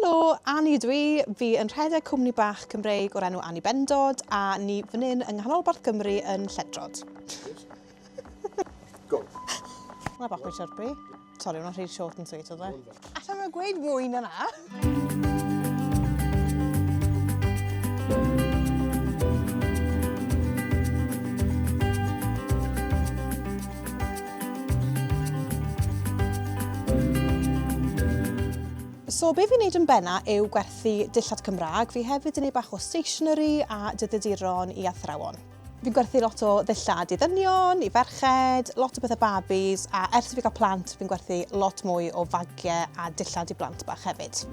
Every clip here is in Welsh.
Helo, Annie ydw i. Fi yn rhedeg cwmni bach Cymreig o'r enw Annie Bendod a ni fan hyn yng nghanolbarth Cymru yn Lledrod. Go! Mae bach mwy chirpy. Sori, hwnna'n rhy short and sweet oedd e. Alla i gweud mwy na 'na. So be fi'n wneud yn benna yw gwerthu dillad Cymraeg, fi hefyd yn ei bach o stationery a dyddiduron i athrawon. Fi'n gwerthu lot o ddillad i ddynion, i ferched, lot o bethau babis a ers i fi gael plant fi'n gwerthu lot mwy o fagiau a dillad i blant bach hefyd.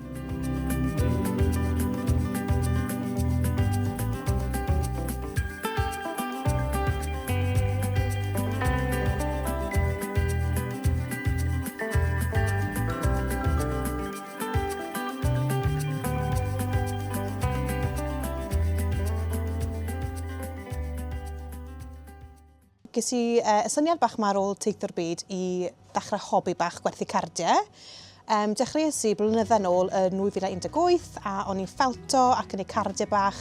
ges i uh, y syniad bach ma ar ôl teithio'r byd i ddechrau hobi bach gwerthu cardiau. Yym, dechreuais i blynydda nôl yn 2018 a o'n i'n ffawto ac yn ei cardiau bach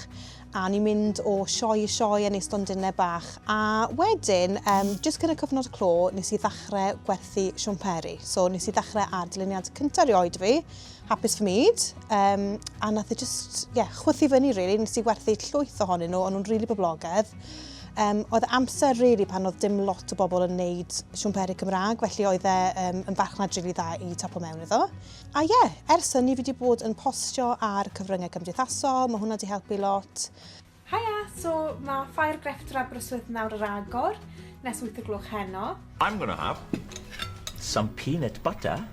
a o'n i'n mynd o sioe i sioe yn ei stondinau bach a wedyn, um, jyst cyn y cyfnod clo, nes i ddechrau gwerthu siwmperi. So nes i ddechrau ar dyluniad cyntaf rioed fi, hapus fy myd, um, a nath i e jyst, ie, yeah, chwythu fyny rili, really. nes i werthu llwyth ohonyn nhw, o'n nhw'n rili really boblogaidd. Um, oedd amser really pan oedd dim lot o bobl yn neud siwmperi Cymraeg, felly oedd e um, yn farchnad rili really dda i tapo mewn iddo. A ie, yeah, ers hynny fi wedi bod yn postio ar cyfryngau cymdeithasol, mae hwnna wedi helpu lot. Haia, so mae Ffair Grefft yr Aberystwyth nawr ar agor, nes 8 o gloch heno. I'm gonna have some peanut butter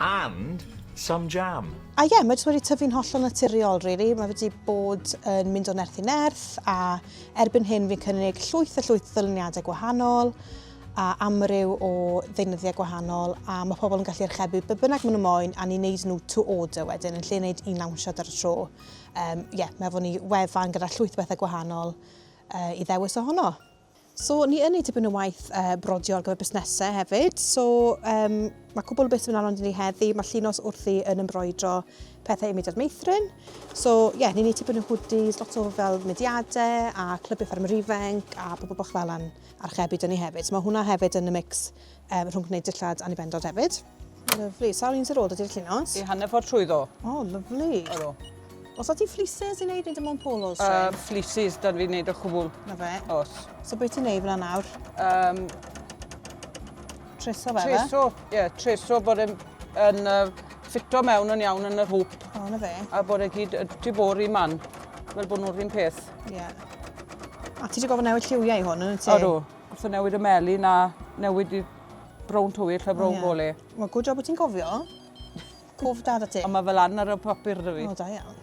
and some jam. A ie, yeah, mae wedi tyfu'n hollol naturiol, really. Mae wedi bod yn mynd o nerth i nerth, a erbyn hyn fi'n cynnig llwyth a llwyth ddyluniadau gwahanol, a amryw o ddeunyddiau gwahanol, a mae pobl yn gallu archebu be bynnag maen nhw moyn, a ni'n neud nhw to order wedyn, yn lle neud un lawnsiad ar y tro. Ie, um, yeah, mae fod ni wefan gyda llwyth bethau gwahanol uh, i ddewis ohono. So, ni yn ei dibyn o waith uh, brodio ar gyfer busnesau hefyd. So, um, mae cwbl o beth yn anodd i ni heddi. Mae llinos wrthi yn embroidro pethau i mudiad meithrin. So, ie, yeah, ni'n ei dibyn o hoodies, lot o fel mudiadau a clybiau fferm rifenc a pobl bach fel yn archebu dyn ni hefyd. So, mae hwnna hefyd yn y mix um, rhwng gwneud dillad anibendod hefyd. Lyflu. Sawl un sy'n rôl dydy'r llinos? I hanner ffordd trwy ddo. O, oh, lyflu. Ydw. Os oeddi fleeces i wneud neu dim ond polos? Uh, fleeces, dan fi'n wneud o chwbl. Na fe? Os. So beth ti'n wneud fyna nawr? Um, treso fe? Treso, ie, yeah, treso bod yn, yn uh, ffito mewn yn iawn yn yr hwp. O, na fe? A bod e gyd y tu bor i man, fel bod nhw'r un peth. Ie. Yeah. A ti wedi gofyn newid lliwiau i hwn, yn y ti? Odw. Os o'n newid y meli na newid i brown tywyll lle brown yeah. gole. Mae good job bod ti'n cofio. Cof dad a ti. Ond mae fel lan ar y papur da fi. O, da iawn.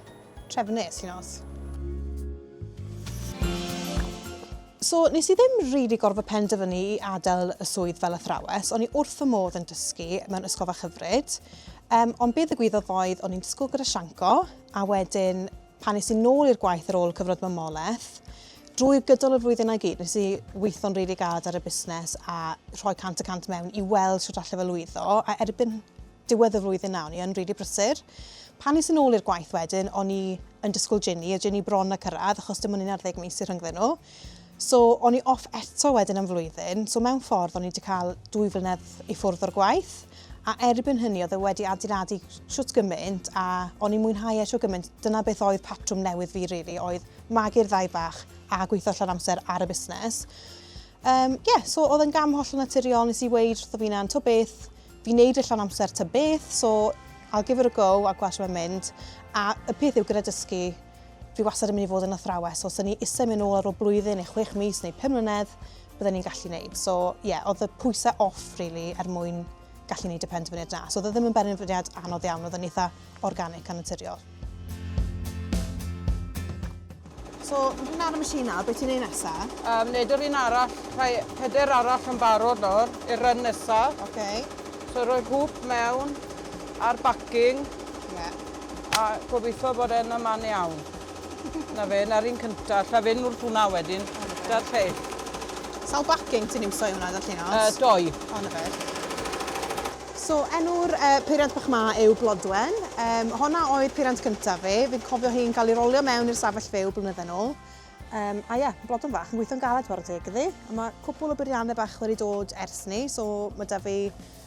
Trefnus, ti'n os. So, nes i ddim rili really gorfod penderfynu i adael y swydd fel athrawes, o'n i wrth y modd yn dysgu mewn ysgol fach hyfryd, um, ond beth y gwyddodd oedd o'n i'n dysgu gyda Sianco, a wedyn Pan es i nôl i'r gwaith ar ôl cyfnod mamolaeth, drwy gydol y flwyddynau gyd nes i weithio'n rili galed ar y busnes a rhoi cant y cant mewn i weld shwt allai fe lwyddo, a erbyn diwedd y flwyddyn 'na o'n i yn rili brysur. Pan es i nôl i'r gwaith wedyn o'n i yn disgwyl Ginny, a Ginny bron a cyrraedd achos dim ond un ar ddeg mis sy rhyngddyn nhw. So o'n i off eto wedyn am flwyddyn, so mewn ffordd o'n i wedi cael dwy flynedd i ffwrdd o'r gwaith, a erbyn hynny oedd e wedi adeiladu shwt gymaint a o'n i'n mwynhau e shwt gymaint, dyna beth oedd patrwm newydd fi really, oedd magu'r ddau bach a gweithio llawn amser ar y busnes. Um, yeah, so oedd yn gam holl naturiol, nes i weid wrtho fi na'n to beth, fi'n neud y llawn amser ta beth, so I'll give it a go a gweld sy'n mynd. A y peth yw gyda dysgu, Fi wastad yn mynd i fod yn athrawes, os o'n i eisiau mynd nôl ar ôl blwyddyn neu chwech mis neu pum mlynedd, bydden ni'n gallu wneud. So, ie, yeah, oedd y pwysau off, really, er mwyn gallu wneud y penderfyniad na. So, oedd e ddim yn benderfyniad anodd iawn, oedd yn eitha organic a naturiol. So, mae hwnna ar y machine nawr, beth ti'n ei nesa? Um, neud yr un arall, rhai peder arall yn barod nawr, i'r run nesa. Okay. So, rhoi hwp mewn, a'r backing. Yeah. A gobeithio bod e'n y man iawn. 'Na fe, 'na'r un cynta. Alla i fynd wrth hwnna wedyn. 'Da'r lleill. Sawl bacing ti'n iwso i hwnna, ddarllenos? Yy, dou. O, 'na fe. So, enw'r uh, peiriant bach ma yw Blodwen. Um, honna oedd peiriant cyntaf fi. Fi'n cofio hi'n cael ei rolio mewn i'r safell fyw blynydde nôl. Um, a ie, yeah, blodwn fach yn gweithio'n galed chwarae teg iddi. Mae cwpl o beiriannau bach wedi dod ers ni, so mae da fi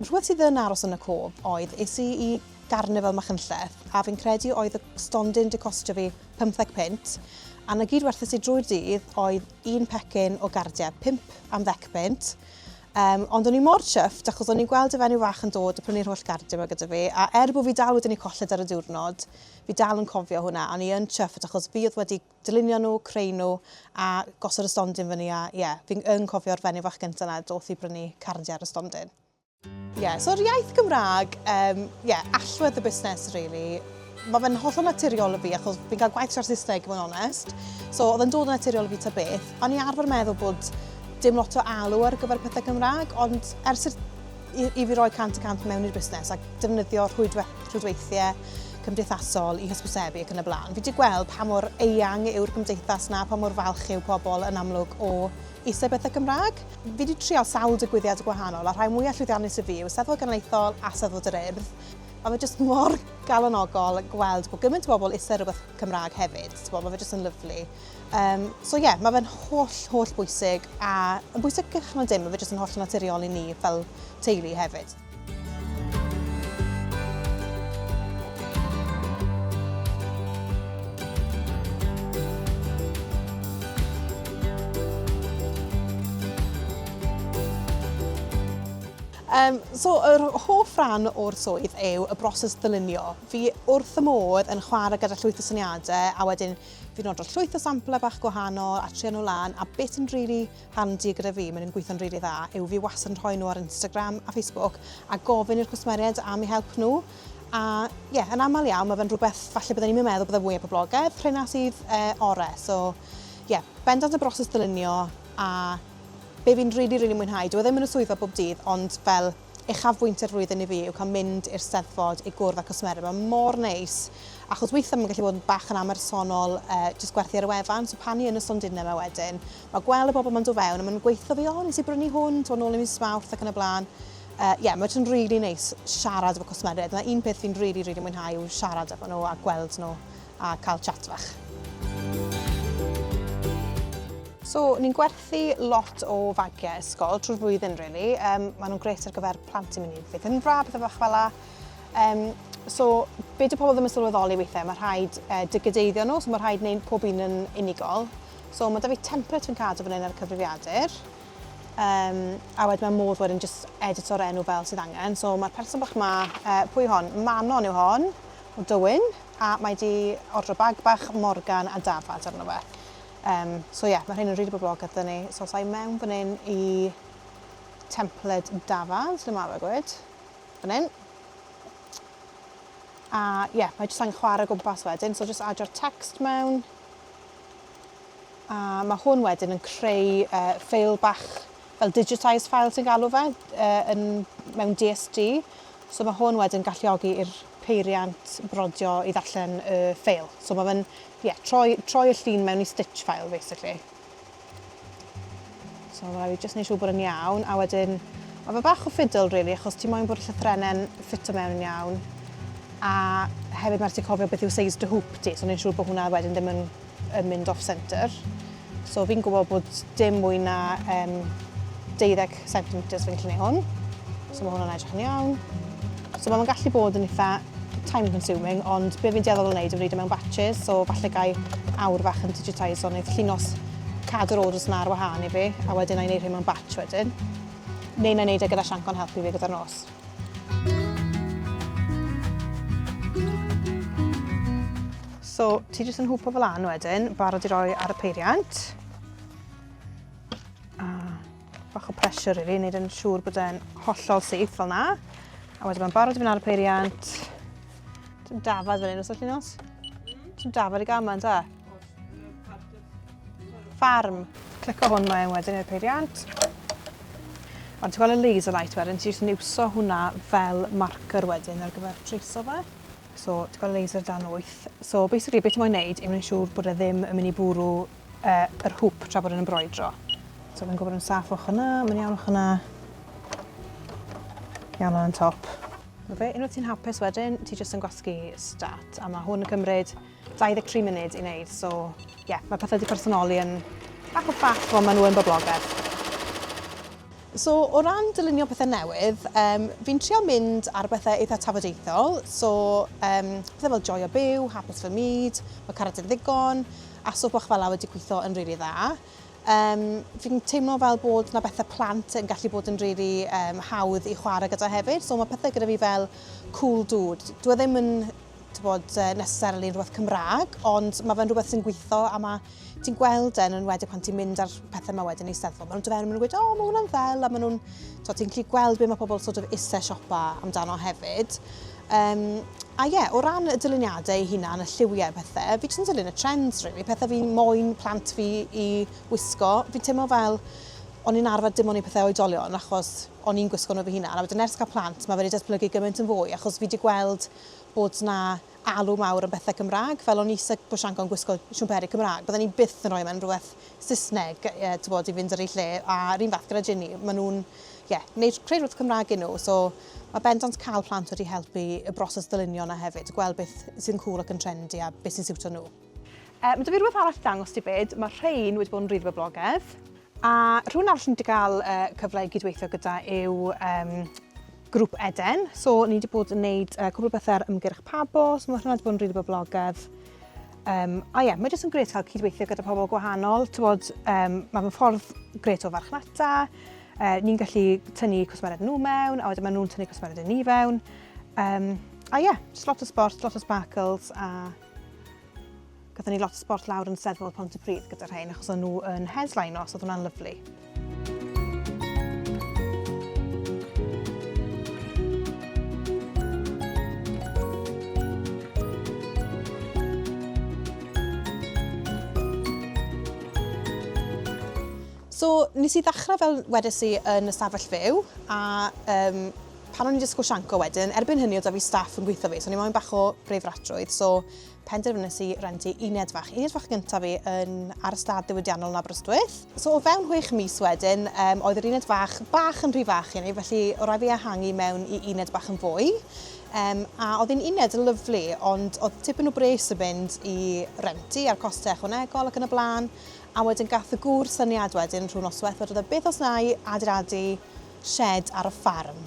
Rhywbeth sydd yn aros yn y cof oedd, es i i garnifal Machynlleth a fi'n credu oedd y stondin 'di costio fi pymtheg punt a 'na gyd werthes i drwy'r dydd oedd un pecyn o gardiau, pump am ddec punt yym ond o'n i mor chuffed achos o'n i'n gweld y fenyw fach yn dod a prynu'r holl gardiau 'ma gyda fi a er bo' fi dal wedyn 'di colled ar y diwrnod fi dal yn cofio hwnna a o'n i yn chuffed achos fi oedd wedi dylunio nhw, creu nhw a gosod y stondin fyny a ie, yeah, fi'n yn cofio'r fenyw fach gyntaf yna doth i brynu cardiau ar y stondin. Ie, yeah, so'r iaith Gymraeg, um, yeah, allwedd y busnes, really. Mae fe'n hollol naturiol y fi, achos fi'n cael gwaith tra'r Saesneg, mae'n onest. So, oedd yn dod yn naturiol y fi ta beth. O'n i arfer meddwl bod dim lot o alw ar gyfer pethau Cymraeg, ond ers i'r i, i fi roi cant y cant mewn i'r busnes ac defnyddio rhwydwe, rhwydweithiau cymdeithasol i hysbysebu ac yn y blaen. Fi wedi gweld pa mor eang yw'r gymdeithas na, pa mor falch yw pobl yn amlwg o eisiau bethau Cymraeg. Fi wedi trial sawl digwyddiad gwahanol a rhai mwyaf llwyddiannus y fi yw Eisteddfod Genedlaethol a Eisteddfod yr Urdd. Mae fe jyst mor galonogol gweld bod gymaint o bobl eisiau rhywbeth Cymraeg hefyd. Mae fe jyst yn lyflu. Um, so ie, yeah, mae fe'n holl, holl bwysig a yn bwysig gych na dim, mae fe jyst yn holl naturiol i ni fel teulu hefyd. Um, so, yr hoff ran o'r swydd yw y broses ddylunio. Fi wrth y modd yn chwarae gyda llwyth o syniadau a wedyn Fi'n ordro llwyth o samplau bach gwahanol a trio nhw lan a beth sy'n rili handi gyda fi, maen nhw'n gweithio'n rili dda, yw fi wastad yn rhoi nhw ar Instagram a Facebook a gofyn i'r cwsmeriaid am eu help nhw a ie, yeah, yn aml iawn mae fe'n rhywbeth falle byddwn ni'n meddwl byddai fwyaf poblogaidd, rhena sydd e, orau, so ie, yeah, bendant y broses ddylunio a be fi'n rili, really, rili really mwynhau, dwi e ddim yn y swyddfa bob dydd ond fel uchafbwynt yr flwyddyn i fi yw cael mynd i'r Steddfod i gwrdd â cwsmeriaid. Mae mor neis, achos weithiau mae'n gallu bod yn bach yn amersonol, uh, jyst gwerthu ar y wefan, so pan i yn y stondinau yma wedyn, mae gweld y bobl mae'n dod fewn a mae'n gweithio fi, o, nes i brynu hwn, ti'n ôl i mis mawrth ac yn y blaen. Ie, uh, yeah, mae'n rili really neis siarad efo cwsmeriaid. Mae un peth fi'n rili, really, really mwynhau yw siarad efo nhw a gweld nhw. a cael chat fach. So, ni'n gwerthu lot o fagiau ysgol trwy'r flwyddyn, really. Um, maen nhw'n gret ar gyfer plant i mynd i fydd yn fra, bethau bach fel la. Um, so, be dy pobl ddim yn sylweddoli weithiau, mae rhaid uh, digydeiddio nhw, so mae rhaid wneud pob un yn unigol. So, mae da fi template fi'n cadw fan hyn ar y cyfrifiadur. Um, a wedyn mae modd wedyn just edit o'r enw fel sydd angen. So, mae'r person bach ma, uh, pwy hon? Manon yw hon, o Dywyn. a mae 'di ordro bag bach Morgan a dafad arno fe. Um, so ie, yeah, mae rhain yn rili boblogaidd dyn ni. So os i mewn fan hyn i templed dafad, lle mae fe gwyd? Fan hyn. A ie, yeah, mae jyst angen chwarae gwmpas wedyn, so jyst adio'r text mewn. A mae hwn wedyn yn creu uh, ffeil bach fel digitised file sy'n galw fe, uh, yn, mewn DSG. So mae hwn wedyn galluogi i'r peiriant brodio i ddarllen y uh, ffeil. So mae fe'n, ie, yeah, troi, troi y llun mewn i stitch file, basically. So mae fi jyst neud siŵr bod yn iawn, a wedyn, mae fe bach o ffidl, really, achos ti moyn bod y llythrenau'n ffito mewn yn iawn, a hefyd mae'r ti cofio beth yw seis dy hwp ti, so neud siŵr bod hwnna wedyn ddim yn yn mynd off centre. So fi'n gwybod bod dim mwy na um, 12 cm fi'n gallu gwneud hwn. So mae hwnna'n edrych yn iawn. So mae'n gallu bod yn eitha time consuming, ond be fi'n deddol o wneud yw wneud e mewn batches, so falle gai awr fach yn digitise o'n eith llinos cadw'r orders yna ar wahân i fi, a wedyn na i wneud hyn mewn batch wedyn. Neu na i wneud e gyda sianc o'n helpu fi gyda'r nos. So, ti jyst yn hwpo fel an wedyn, barod i roi ar y peiriant. A bach o pressure i fi, wneud yn siŵr bod e'n hollol syth fel na. A wedyn mae'n barod i fynd ar y peiriant. Ti'n dafod fel un os ydych chi'n os? Ti'n dafod i gael yma, ta? Farm. Clico hwn mae wedyn i'r peiriant. Ond ti'n gweld y laser light wedyn, ti'n jyst niwso hwnna fel marker wedyn ar gyfer trace o fe. So, ti'n gweld laser dan wyth. So, basically, beth mae'n neud yw mae'n siŵr bod e ddim yn mynd i bwrw uh, yr hwp tra bod e'n embroidro. So, mae'n gwybod yn saff o'ch yna, mae'n iawn o'ch yna. Iawn o'n top. Fe, unwaith ti'n hapus wedyn, ti jyst yn gwasgu stat, a mae hwn yn cymryd 23 munud i wneud, so ie, yeah, mae pethau wedi personoli yn bach o ffaff, ond maen nhw yn boblogaidd. So, o ran dylunio pethau newydd, um, fi'n trio mynd ar bethau eitha tafodieithol, so um, pethau fel joio byw, hapus fy myd, mae caracter ddigon, a so bach fel la wedi gweithio yn rili really dda. Um, fi'n teimlo fel bod yna bethau plant yn gallu bod yn rili really, um, hawdd i chwarae gyda hefyd, so mae pethau gyda fi fel cool dude. Dwi e ddim yn t'bod, yy necessarily yn rhywbeth Cymraeg, ond mae fe'n rhywbeth sy'n gweithio a mae ti'n gweld e yn enwedig pan ti'n mynd ar pethau yma wedyn i Eisteddfod. Maen nhw'n dod fewn a maen nhw'n gweud, o, mae hwnna'n ddel, a maen nhw'n, t'bod, ti'n gallu gweld be mae pobl sort of eisiau siopa amdano hefyd. Um, a ie, yeah, o ran y dyluniadau ei hunan, y lliwiau a pethau, fi jyst yn dilyn y trends, really, pethau fi moyn plant fi i wisgo. Fi'n teimlo fel o'n i'n arfer dim ond i pethau oedolion achos o'n i'n gwisgo nhw fy hunan. A wedyn ers cael plant, mae wedi datblygu gymaint yn fwy achos fi wedi gweld bod 'na alw mawr am bethau Cymraeg, fel o'n i isie bod Sianco yn gwisgo siwmperi Cymraeg, bydden i byth yn rhoi mewn rhywbeth Saesneg, t'bod, i fynd ar ei lle, a'r un fath gyda Ginny, maen nhw'n, ie, wneud, creu rhywbeth Cymraeg i nhw, so mae bendant cael plant wedi helpu y broses ddylunio 'na hefyd, gweld beth sy'n cŵl ac yn trendy a beth sy'n siwtio nhw. Mae 'da fi rhywbeth arall i ddangos ti 'fyd. Mae rhein wedi bod yn rili boblogaidd. A rhywun arall ni wedi cael cyfle i gydweithio gyda yw um, grŵp Eden. So ni wedi bod yn gwneud uh, cwbl bethau ar ymgyrch Pabo, so mae hwnna wedi bod yn rili really boblogaidd. Um, a ie, yeah, mae jyst yn gret cael cydweithio gyda pobl gwahanol. Tywod, um, mae fy ffordd gret o farchnata. Uh, ni'n gallu tynnu cwsmered nhw mewn, a wedyn maen nhw'n tynnu cwsmered yn ni fewn. Um, a ie, yeah, just lot o sport, lot o sparkles, a Gathen ni lot sbort lawr yn seddfod Pont y Pryd gyda rhain achos o'n nhw yn headline os oedd hwnna'n lyflu. So nes i ddechrau fel wedes i yn y stafell fyw a um, Pan o'n i'n disgwyl sianco wedyn, erbyn hynny oedd 'da fi staff yn gweithio fi, so o'n i moyn bach o breifatrwydd, so penderfynais i rentu uned fach. Uned fach gyntaf fi yn ar ystad ddiwydiannol yn Aberystwyth. So o fewn chwech mis wedyn, um, oedd yr uned fach bach yn rhy fach i ni, felly o rai fi ehangu mewn i uned bach yn fwy. Um, a oedd hi'n uned yn lyflu, ond oedd tipyn o bres yn mynd i rentu a'r costau ychwanegol ac yn y blaen. A wedyn gath y gŵr syniad wedyn rhwng noswaith, oedd e beth os na i adeiladu shed ar y ffarm,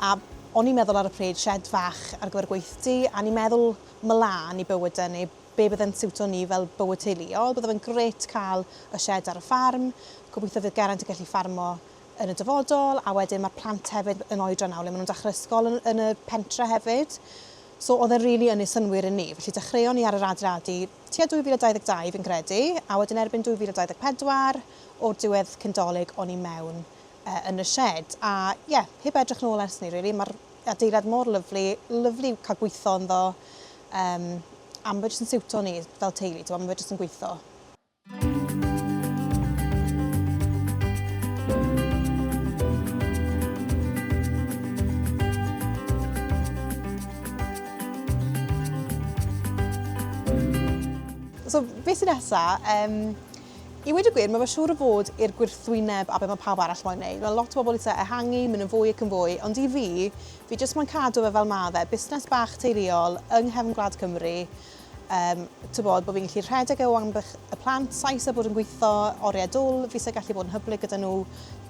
a o'n i'n meddwl ar y pryd shed fach ar gyfer gweithdy, a o'n i'n meddwl mlân i bywydau neu be bydde'n siwto ni fel bywyd teuluol, bydde fe'n grêt cael y shed ar y ffarm, gobeithio fydd Geraint yn gallu ffarmo yn y dyfodol, a wedyn mae'r plant hefyd yn oedran nawr le maen nhw'n dechrau ysgol yn, yn y pentre hefyd. So oedd e'n rili really ynni synwyr i ni, felly dechreuon ni ar yr adeiladu tua 2022 fi'n credu, a wedyn erbyn 2024, o'r diwedd cyn dolyg o'n i mewn. uh, yn y shed. A ie, yeah, heb edrych nôl ers ni, really. Mae'r adeilad mor lyflu, lyflu cael gweithio ynddo. Um, a mae jyst yn siwto ni fel teulu, ti'n mae jyst yn gweithio. So, beth sy'n nesaf? Um, I weud y gwir, mae fy siŵr o fod i'r gwrthwyneb a be mae pawb arall moyn wneud. Mae lot o bobl eisiau ehangu, mynd yn fwy ac yn fwy, ond i fi, fi jyst moyn cadw fe fel mae fe, busnes bach teuluol yng nghefn gwlad Cymru, yym, tibod, bod fi'n gallu rhedeg e o amgylch y plant, Sais a bod yn gweithio oriau dwl, fi isie gallu bod yn hyblyg gyda nhw,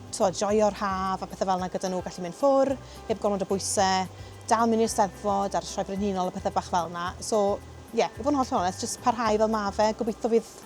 tibod, joio'r haf a pethau fel yna gyda nhw, gallu mynd ffwr, heb gormod o bwysau, dal mynd i'r Steddfod a'r Sioe Brenhinol a pethau bach fel yna. So, ie, i fod yn hollol onest, jyst parhau fel mae fe, gobeithio fydd